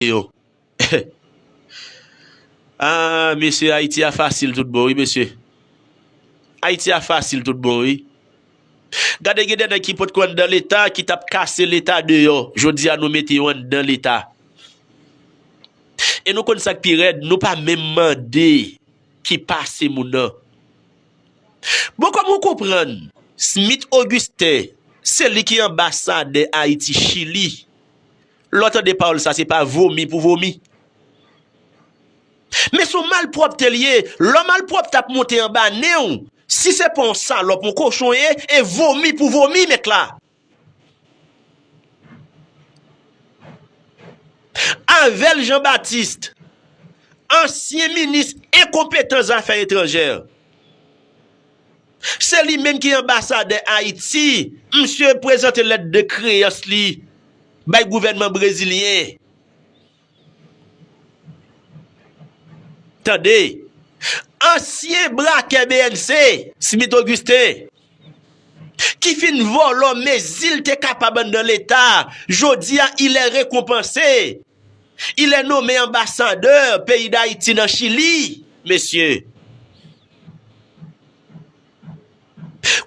yo Aah mesye ayiti a fasil tout bon wi mesye Ayiti a fasil tout bon wi Gade gen de nèg ki potko anndan leta ki tap kase leta deyò jodi a nou mete yo anndan leta E nou konn sak pi rèd nou pa menm mande ki pase moun nan Bon kòman ou konprann Smith Augustin se li ki anbasadè ayiti chili Lè w tande pawòl sa se pa vomi pou vomi. Men son malpwòpte l ye, lò malpwòpte ap monte anba nen w, si se pa yon salòp, yon kochon w ye, e vomi pou vomi mèt la. Avel Jean Baptiste, ansyen minis enkonpetan zafè etranjè. Se li menm ki anbasadè Ayiti. Misye prezante lèt de kreyans li bay gouvènman brezilyen. Tande! Ansyen brakè bnc, Smith Augustin, ki fin vòlò mezi l te kapab anndan Leta, jodi a il est rekonpanse. Il est nome anbasadè peyi Dayiti nan Chili, mesye.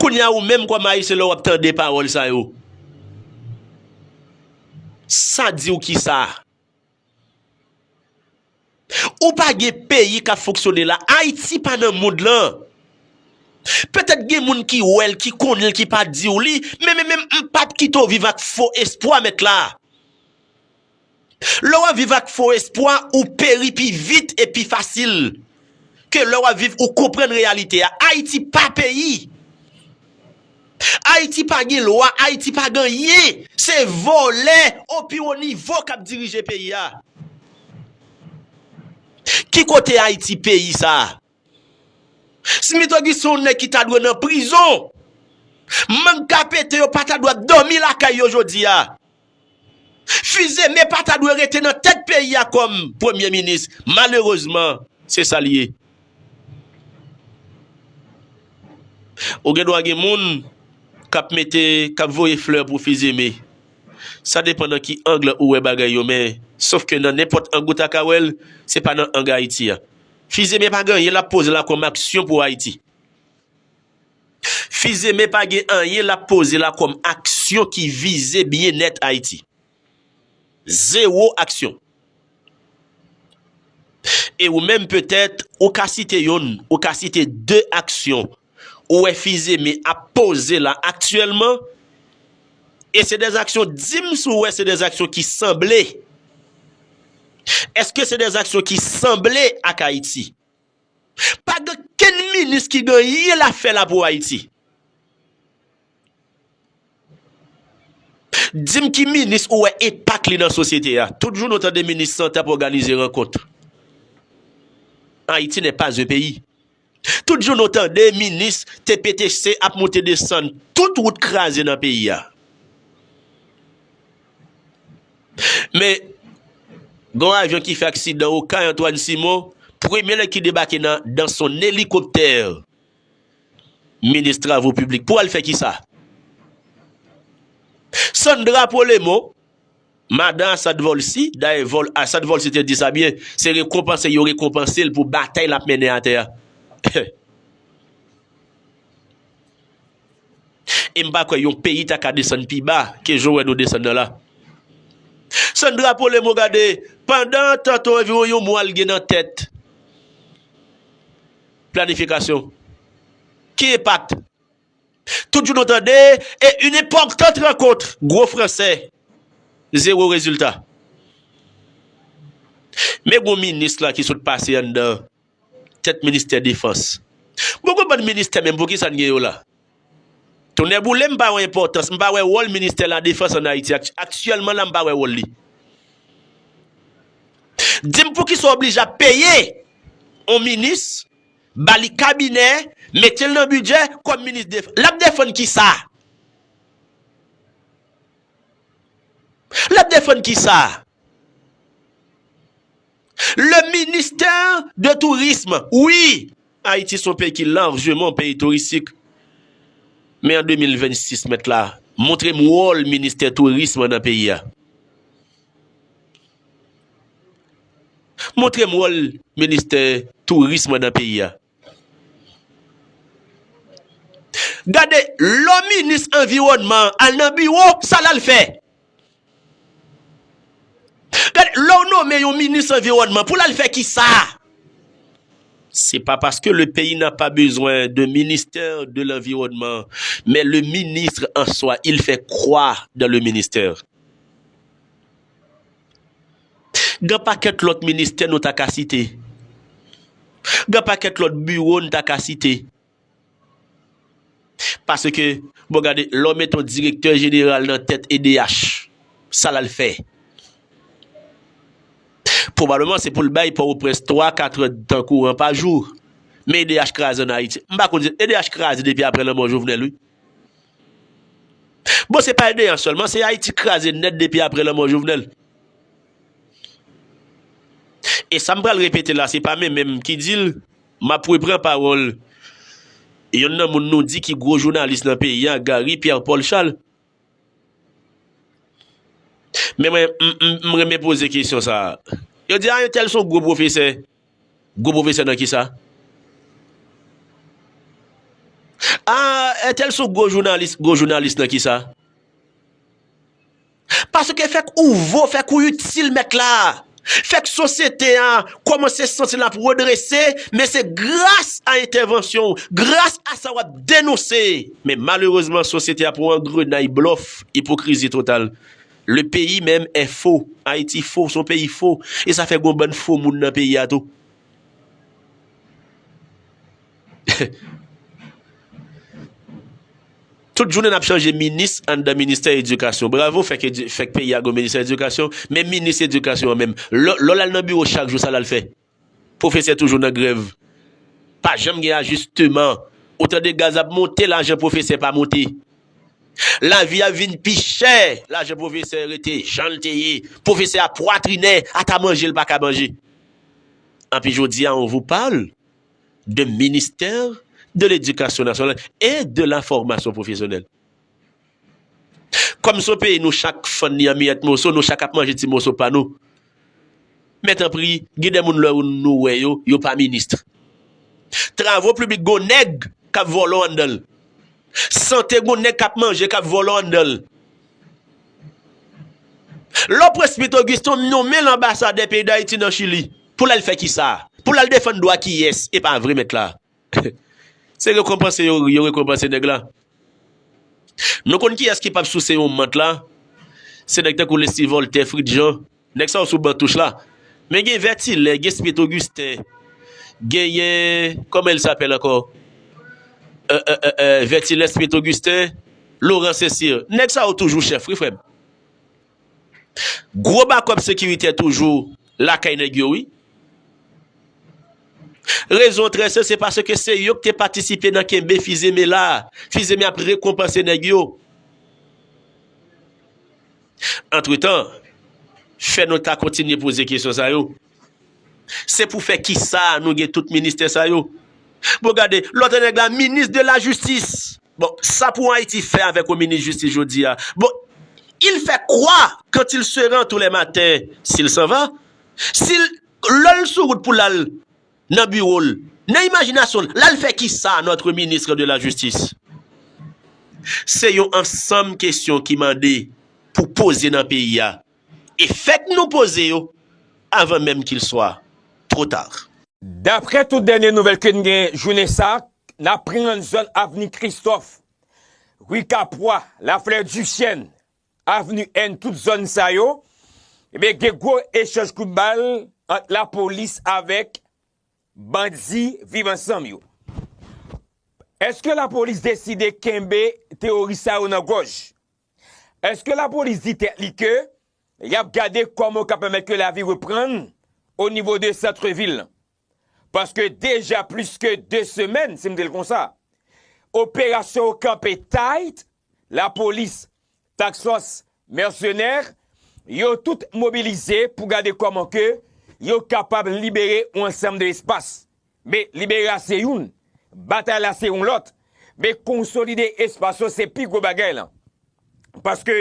Kounye a ou menm kòm Ayisyen lè w ap tande pawòl sa yo, sa di w ki sa? Ou pa gen peyi k ap fonksyone la. Ayiti pa nan mond lan. Petèt gen moun ki wè l, ki konnen l, ki pa di w li, men men menm m pap kite w viv ak fo espwa mèt la. Lè w ap viv ak fo espwa, ou peri pi vit e pi fasil ke lè w ap viv ou konprann reyalite a. Ayiti pa peyi. Ayiti pa gen lwa, Ayiti pa gen anyen. Se vòlè o pi wo nivo k ap dirije peyi a. Ki kote Ayiti peyi sa? Smith Auguste se yon nèg ki ta dwe nan prizon. Mang kapete yo pa ta dwe ap dòmi lakay yo jodi a. Fils-Aimé pa ta dwe rete nan tèt peyi a kòm premye minis. Malerezman, se sa l ye. Ou gen dwa gen moun k ap mete, k ap voye flè pou Fils-Aimé. Sa depan nan ki ang ou wè bagay yo men, sof ke nan nenpòt ang ou ta ka wè l, se pa nan ang Ayiti a. Fizeme pa gen anyen lap poze la kòm aksyon pou Ayiti. Fizeme pa gen anyen lap poze la kòm aksyon ki vize byennèt Ayiti. Zewo aksyon. E ou menm petèt ou ka site youn, ou ka site de aksyon Ou wè Fizeme ap poze la aktyèlman e se de aksyon di m si w wè se de aksyon ki sanble. Eske se de aksyon ki sanble ak Ayiti? Pa gen okenn minis ki gen anyen la fè la pou Ayiti. Di m ki minis ou wè enpak li nan sosyete a. Tout jounen w tande minis sante ap òganize rankont. Ayiti nè pas un peyi. Tout jou nou tande minis TPTC ap moute desann tout wout kraze nan peyi a. Men, gon avyon ki fè aksidan Okay Antoine Simon, premye nèg ki debake nan dan son elikoptè minis travo piblik pou al fè kisa? Sandra Polemon Madan Assad Volcy, dayè Vol. Assad Volcy te di sa byen, se rekonpanse yo rekonpanse l pou batay l ap mennen atè a. E m pa kwè yon peyi ta ka desann pi ba ke jan w wè nou desann nan la. Sandra Polemo gade, pandan tantôt anviwon yon mwa l gen nan tèt planifikasyon. Ki enpak Tout jou nou tande e une importante rencontre gwo fransè zero rezilta. Men gwo minis la ki sot pase anndan tèt ministè defans. Bon gwo bann ministè menm poukisa n gen yo la? Tonnè boule m pa wè enpòtans, m pa wè wòl ministè la defans an Ayiti aktyèlman la m pa wè wòl li. Di m poukisa w oblije ap peye yon minis. Bali kabinè, metel nan budget, kom minis defans. Lap defann kisa? Lap defann kisa? Le ministère de tourisme, wi! Ayiti son peyi ki larjeman peyi touristik. Men an 2026 mèt la, montrem wol ministè tourisme nan peyi a. Montre m wòl ministè tourism nan peyi a. Gade lò minis anviwònman al nan biwo sa l al fè. Gade lò w nome yon minis anviwònman pou l al fè kisa. Se pa paske le peyi na pa bezwen de ministè de lanviwònman men le ministr an swa il fè kwa dan le ministè. Gan pakèt lòt ministè nou ta ka site. Gan pakèt lòt biwo n ta ka site. Paske, bon gade, lè w mete yon direktè jeneral nan tèt edh, sa l al fè? Pwobableman se pou l bay Pòtoprens twa, kat èd tan kouran pa jou. Men edh kraze ann Ayiti. M pa konn si, edh kraze depi apre lanmò Jovenel wi. Bon se pa edea selman se ayiti kraze net depi apre lanmo jovenel e sam pral repete la se pa me menm ki dil map repran parol yon nan moun nou di ki gro jounalis nan peyi a gary pierre paul chal men mwen m renmen poze kesyon sa yo di a yon tel son gro profese Gwo pwofesè nan kisa? Aah entèl son gwo jounalis, gwo jounalis nan kisa? Paske fèk ou vo, fèk ou itil mèt la, fèk sosyete a kòmanse santi l ap redrese, men se gras a entèvansyon w, gras a sa w ap denonse. Men malerezman sosyete a pran yon grenay blòf, ipokrizi total. Le pays meme est faux, Haïti faux, son pays faux, et ça fait gon bann faux moun nan pays a tou. Tout jounen nap chanje minis anndan ministè edikasyon. Bravo fèk peyi a gon ministè edikasyon, men minis edikasyon an menm. Lè w al nan biwo chak jou sa l al fè? Profesè toujou nan grèv. Pa janm gen ajisteman. Ou tande gaz ap monte lajan profesè pa monte. Lavi a vin pi chè lajan profesè rete jan l te ye. Profesè a pwatrinè ata manje l pa ka manje. Anpi jodi a on vous parle de ministère de l'Education nationale et de la formation professionnelle. Kòm son peyi nou chak fann li an miyèt moso nou chak ap manje ti moso pa nou men tanpri gen de moun lè nou wè yo yo pa ministre travo pliblik gon nèg kap vòlò anndanl sante gon nèg kap manje kap vòlò anndanl lò presbyt Augustin nonmenl anbasadè peyi dayiti nan chili poul al fè kisa poul al defann dwa kiyès epa vre mèt la. Se rekonpanse yo yo rekonpanse nèg la. Nou konn kiyès ki pap souse yon mant la? Se nèg tankou Leslie Voltaire, Fritz Jean, nèg sa yo sou ban touch la. Men gen Vertilain, gen Smith Augustin, genyen, kòman il sapèl ankò? Vertilain, Smith Augustin, Laurent Saint-Cyr. Nèg sa yo toujou chèf wi frè m. Gwo bakòp sekiritè toujou lakay nèg yo wi. Rezon trè senp se paske se yo ki te patisipe nan kenbe Fizeme la. Fizeme ap rekonpanse nèg yo. Antretan, fè nou ta kontinye poze kesyon sa yo. Se pou fè kisa nou gen tout ministè sa yo? Bon gade, lòt nèg la minis de la jistis. Bon, sa pou Ayiti fè avèk yon minis jistis jodi a? Bon, il fè kwa kant il se ran tou lè maten si l san va? Si l, lò l sou wout pou l al nan biwo l, nan imajinasyon l, l al fè kisa notre ministre de la jistis? Se yon ansanm kesyon ki mande pou poze nan peyi a. E fèk nou poze yo avan menm kil swa two tard. Daprè tout dènye nouvèl ke n gen jounen sa, n aprann zòn avni Kristòf, rue Kapwa, la fleur du chêne, avni N tout zòn sa yo, ebyen gen gwo echanj kout bal ant lapolis avèk bandi viv ansanm yo. Eske lapolis deside kenbe teworis sa yo nan gòj? Eske lapolis di tèt li ke yap gade kòman yo ka pèmèt ke lavi reprann o nivo de santre vil lan? Paske deja plis ke 2 semèn, si m di l konsa, operasyon yo kanpe tayt, lapolis, taksfòs, mèsenè, yo tout mobilize pou gade kòman ke yo kapab libere yon ansanm de espas. Be libere a se youn, batay la se yon lòt, be konsolide espas yo se pi gwo bagay lan. Paske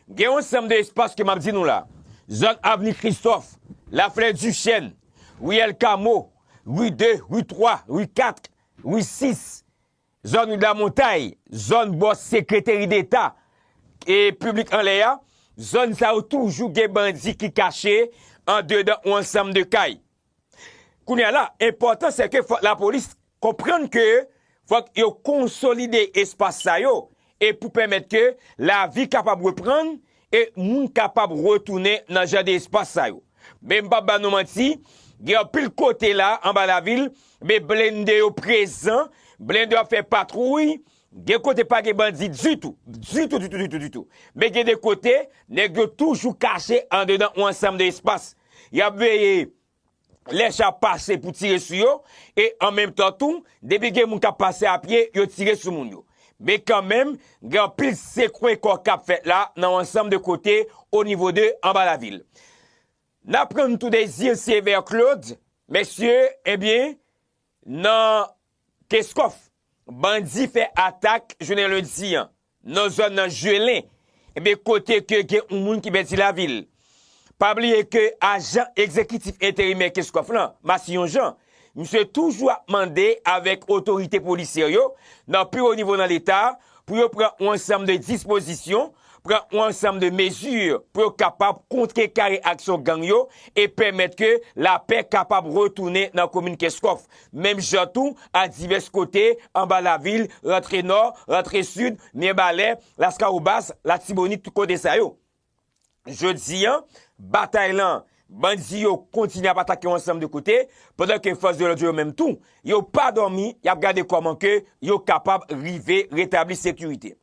gen yon sanm de espas ke m ap di nou la, zòn avni Kristòf, Laflè Dichèn, riyèl Kamo, ri 2, ri 3, ri 4, ri 6, zòn ri Lamontay, zòn bò sekreteri deta e piblik anlè a, zòn sa yo toujou gen bandi ki kache andedan yon ansanm de kay. Kounya la, enpòtan se ke fòk lapolis konprann ke fòk yo konsolide espas sa yo e pou pèmèt ke lavi kapab reprann e moun kapab retounen nan jan de espas sa yo. Men m p ap ba nou manti, gen anpil kote la anba lavil, men blende yo prezan, blende yo ap fè patwouy, gen kote pa gen bandi ditou, ditou ditou ditou ditou. Men gen de kote, nèg yo toujou kache andedan yon ansanm de espas. Y ap veye lè cha pase pou tire sou yo, e an menm tan tou, depi gen moun k ap pase apye, yo tire sou moun yo. Men kanmenm, gen anpil sekwe kò k ap fèt la nan yon ansanm de kote onivo de anba lavil. N aprann tou de Zir Syevèr Klod, mesye, ebyen, nan Keskòf, bandi fè atak jounen lendi an. nan zòn nan Juelin, ebyen kote ke gen yon moun ki pèdi lavi l. Pa bliye ke ajan egzekitif enterimè Kenscoff lan, Massillon Jean, misye toujou ap mande avèk otorite polisyè yo nan pi wo nivo nan leta pou yo pran yon ansanm de dispozisyon, pran yon ansanm de mezi pou yo kapab kontrekare aksyon gang yo e pèmèt ke lapè kapab retounen nan komin Kenscoff. Menm jan tou a divès kote anba lavil, rantre nò, rantre sid, Mirebalais, Laskawobas, Latibonit tout kote sa yo. Jodi an, batay lan, bandi yo kontinye ap atake yon ansanm de kote, pandan ke fòs de lòd yo yo menm tou, yo pa dòmi, y ap gade kòman ke yo kapab rive retabli sekirite.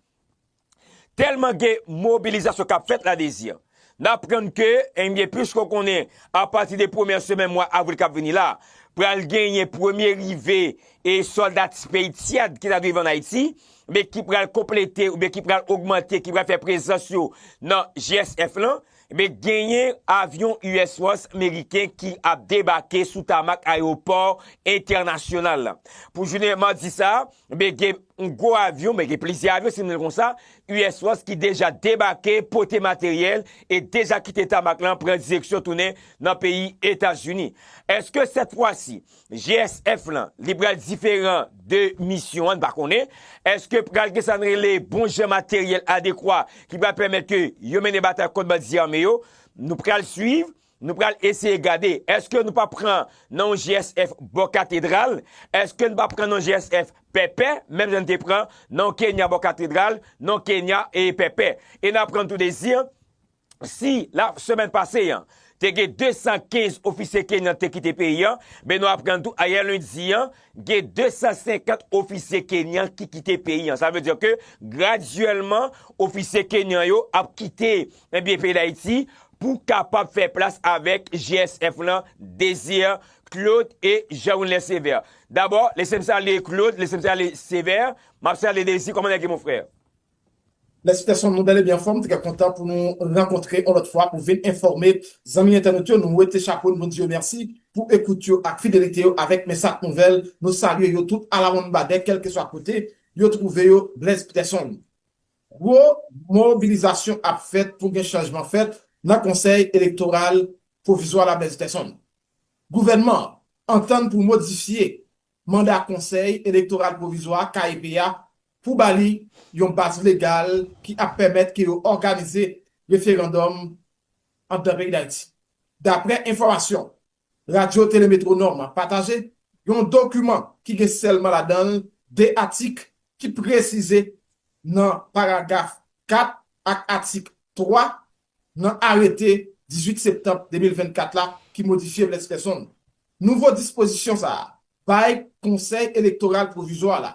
Tèlman gen mobilizasyon k ap fèt la Dezi, n aprann ke, enbyen plis ke w konnen apati de premyè semèn mwa avril k ap vini la, pral genyen premye rive e sòlda ti peyi tyad ki ta dwe rive ann Ayiti, men ki pral konplete oubyen ki pral ogmante, ki pral fè prezans yo nan GSF lan. Ebyen genyen avyon US Force meriken ki ap debake sou tamak ayewopò entènasyonal la. Pou jounen madi sa, ebyen gen yon gwo avyon, ebyen gen plizyè avyon si nou rele konsa, US Force ki deja debake, pote materyèl e deja kite tamak lan pran direksyon tounen nan peyi Etazini. Eske sèt fwa si, GSF lan li pral diferan de misyon an, n pa konnen. Eske pral gen sa n rele bon jan materyèl adekwa ki pral pèmèt ke yo mennen batay kont bandi zame yo? Nou pral swiv, nou pral eseye gade. Eske nou pa pran nan yon GSF bò katedral? Eske n pa pran nan yon GSF Pèpè? Menm jan n te pran nan yon Kenya bò katedral, nan yon Kenya Pèpè. E n aprann tou dezi an. Si, la semèn pase an, te gen 215 ofisye Kenyan te kite peyi an, men nou aprann tou ayè lendi an, gen 250 ofisye Kenyan ki kite peyi an. Sa vle di ke gradyèlman ofisye Kenyan yo ap kite ebyen peyi Dayiti pou kapab fè plas avèk GSF lan, Desir, Claude e Jean Wilner Sévère. Dabò, lese m salye Claude, lese m salye Sévère, m ap salye Desir, kòman nèg yo mon frè? Mèsi Tèson, nou bèl e byen anfòm, trè kontan pou nou rankontre yon lòt fwa pou vin enfòme zanmi entènot yo, nou wete chapo nou di yo mèsi pou ekout yo ak fidelite yo avèk Mensat Nouvèl, nou salye yo tout alawonnbadè kèlkeswa kote yo twouve yo, Blaise Pterson. Gwo mobilizasyon ap fèt pou gen chanjman fèt nan konsèy elektoral pwovizwa la Blaise Pterson. Gouvènman an antann pou modifye manda Konsèy Elektoral Pwovizwa, KEP, a pou ba li yon baz legal ki ap pèmèt ke yo òganize referandòm anndan peyi Dayiti. Daprè enfòmasyon Radyo Tele Metwonòm pataje, yon dokiman ki gen sèlman ladan l 2 atik ki presize nan paragaf 4 ak atik 3 nan arete 18 septanm 2024 la ki modifye Bless Persson. Nouvo dispozisyon sa a bay Konsèy Elektoral Pwovizwa la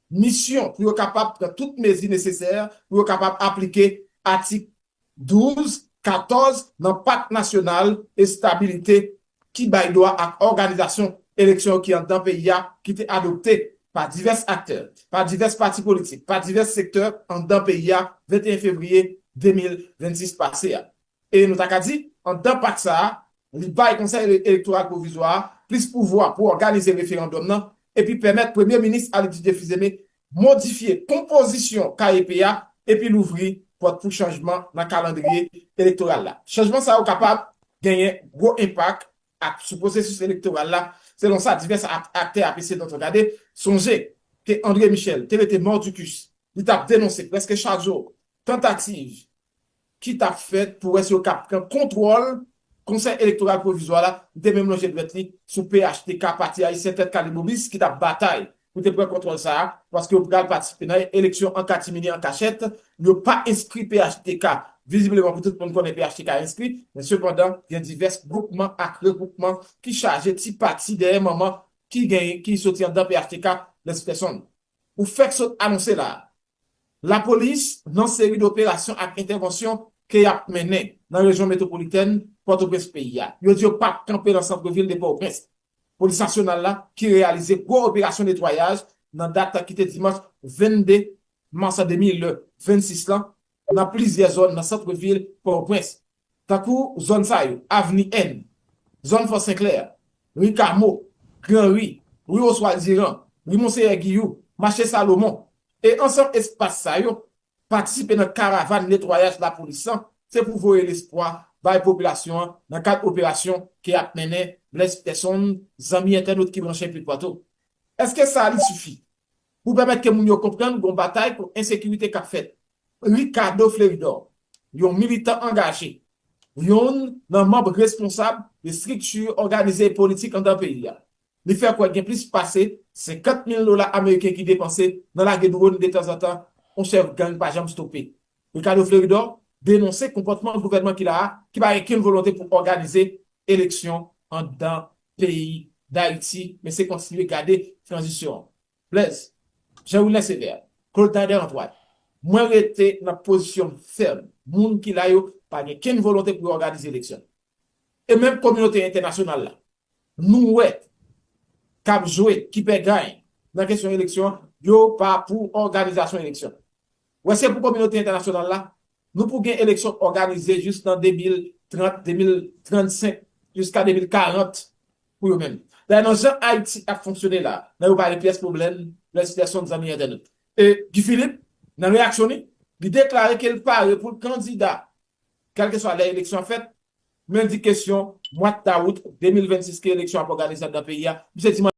misyon pou yo kapab pran tout mezi nesesè pou yo kapab aplike atik 12, 14 nan Pak Nasyonal Estabilite ki bay dwa ak òganizasyon eleksyon yo ki anndan peyi a ki te adopte pa divès aktè, pa divès pati politik, pa divès sektè anndan peyi a 21 fevriye 2026 pase a. E nou ta ka di, anndan pak sa a, li bay Konsèy Elektoral Pwovizwa a plis pouvwa pou òganize referandòm nan epi pèmèt Premye Minis Ali Didier Fils-Aimé modifye konpozisyon KEP a epi louvri pòt pou chanjman nan kalandriye elektoral la. Chanjman sa yo kapab genyen gwo enpak ak sou pwosesis elektoral la, selon sa divès aktè ap eseye donton gade. Sonje ke André Michel te rete mordicus, li tap denonse prèske chak jou tantativ ki t ap fèt pou wè si yo kab pran kontwòl Konsèy Elektoral Pwovizwa la, li te menm lonje dwèt li sou phtk Pati Ayisyen Tèt Kale Bobis ki t ap batay pou te pran kontwòl sa a paske yo pral patisipe nan eleksyon an katimini an kachèt, yo pa enskri phtk vizibleman pou tout moun konnen phtk enskri, men sepandan gen divès gwoupman ak regwoupman ki chaje ti pati dèyè manman ki gen ki soti anndan phtk Lespèsonn ou fèk sot anonse la a. Lapolis nan seri de operasyon ak entèvansyon ke yap mennen nan rejyon metwopolitèn Pòtoprens peyi a. Yo di yo pap kanpe nan santre vil de Pòoprens. Polis nasyonal la ki reyalize gwo operasyon netwayaj nan dat ki te dimanch 22 mas 2026 lan nan plizyè zòn nan santre vil Pòoprens. tankou zòn sa yo, Avni N, zòn Fò Senklè a, Ri Kamo, Gran Ri, Ri Oswald Diran, Ri Monseyè Giyou, Mache Salomon, e ansanm espas sa yo, patisipe nan karavàn netwayaj lapolis lan, se pou voye lespwa bay popilasyon an nan kad operasyon ke ap mennen Blaise Peson, zanmi entènot ki branche anpil patou. Eske sa li sifi pou pèmèt ke moun yo konprann gon batay kont ensekirite kap fèt? Ricardo Fleuridor, yon militan angaje, youn nan manb responsab estrikti òganize politik anndan peyi a, li fè kwè gen plis pase 50 mil dola ameriken ki depanse nan lage dwòn detanzantan on chèf gang pa janm stope. Ricardo Fleuridor denonse konpòtman gouvènman ki la a ki pa gen kenn volonte pou òganize eleksyon anndan peyi Dayiti men se kontinye gade tranzisyon an. Blèz, Jean Wilner Sévère, Claude Nader Antoine, Mwen rete nan pozisyon m fèm, moun ki la yo pa gen kenn volonte pou yo òganize eleksyon. E menm kominote entènasyonal la nou wè k ap jwe ki pè gany nan kesyon eleksyon yo pa pou òganizasyon eleksyon. Wè se pou kominote entènasyonal la Nou pou gen eleksyon òganize jis nan 2030, 2035, jiska 2040 pou yo menm. Dayè nan jan Ayiti ap fonksyone la, nan yo pa gen pyès pwoblèm, Blaise Pearson, zanmi entènot. E Guy Philippe, nan reyaksyon li, li deklare ke li pare pou l kandida kèlkeswa lè eleksyon ap fèt, men li di kesyon mwad dawout 2026 ke eleksyon ap òganize anndan peyi a, misye di manti.